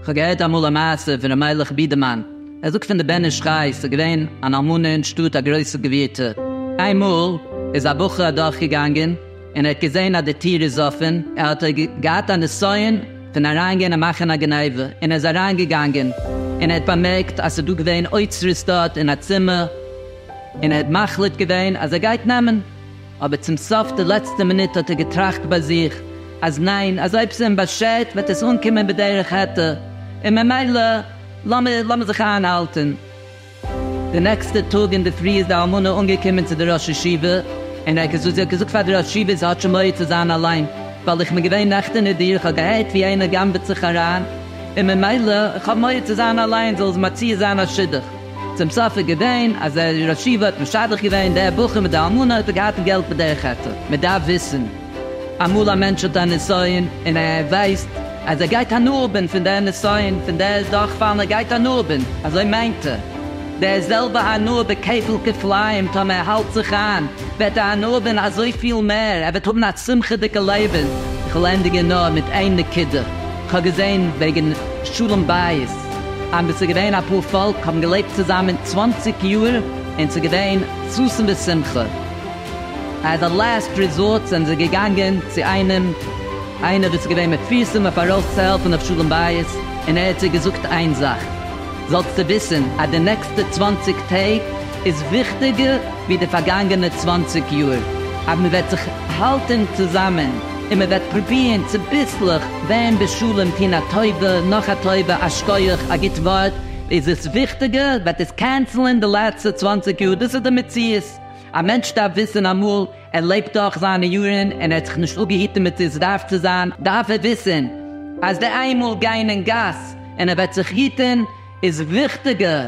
כ'האב געהערט אמאל א מעשה פון ר' מיילעך בידערמאן, ער זאגט פון די בן איש חי, ס'איז געווען אן אלמנה אין שטאט א גרויסע גבירטע, איינמאל איז א בחור אדורכגעגאנגען און ער האט געזען אז די טיר איז אפען, ער האט געהאט א נסיון פון אריינגיין און מאכן א גניבה, און ער איז אריינגעגאנגען און ער האט באמערקט אז ס'איז דא געווען אוצרות דארט אין א צימער, און ער האט מחליט געווען אז ער גייט נעמען, אבער צום סוף די לעצטע מינוט האט ער געטראכט ביי זיך אז ניין, אז אויב ס'אים באשערט וועט עס אנקומען בדרך העתר, און ממילא לאמיר לאמיר זיך איינהאלטען. די נעקסטע טאג אינדערפרי איז די אלמנה אנגעקומען צו די ראש ישיבה, און ער האט געזאגט, זי האט געזאגט פאר די ראש ישיבה זי האט שוין מורא צו זיין אליין, ווייל איך בין געווען נעכטען אין דיר, איך האב געהערט ווי איינער גנב'עט זיך אריין, און ממילא איך האב מורא צו זיין אליין, זאל זי מציע זיין א שידוך. צום סוף איז געווען אז דער ראש ישיבה האט משדך געווען דער בחור מיט די אלמנה האט ער געהאט אין געלט בדרך חטא, מען דארף וויסן אמאל א מענטש האט א נסיון און ער ווייסט אז ער גייט הנאה האבן פון דער נסיון פון דער דורכפאלן ער גייט הנאה האבן אזוי מיינט ער דער זעלבע הנאה בכפל כפליים טאמער ער האלט זיך איין וועט ער הנאה האבן אזויפיל מער ער וועט האבן א שמחה'דיגע לעבן. איך וועל ענדיגן נאר מיט איין נקודה, איך האב געזען וועגן שלום בית. און וואס איז געווען א פאר פאלק האבן געלעבט צוזאמען צוואנציג יאר און ס'איז געווען ששון ושמחה. עז א לעסט ריזארט זענען זיי געגאנגען צו איינעם איינער וואס איז געווען מפורסם אויף ארויס צו העלפן אויף שלום בית און ער האט זיי געזאגט איין זאך זאלסטו וויסן אז די נעקסטע צוואנציג טעג איז וויכטיגער ווי די פארגאנגענע צוואנציג יאר אז מ'וועט זיך האלטן צוזאמען. און מען וועט פרובירן צוביסלעך ווערן בשלום טון א טובה נאך א טובה א שקויעך א גוט ווארט איז עס וויכטיגער וועט עס קענסלען די לעצטע צוואנציג יאר דאס איז די מציאות א מענטש דארף וויסן אמאל ער לעבט דורך זיינע יארן און ער האט זיך נישט אפגעהיטן מיט איז דארף צו זיין דארף ער וויסן אז די איינמאל גיין אין גאס און ער וועט זיך היטן איז וויכטיגער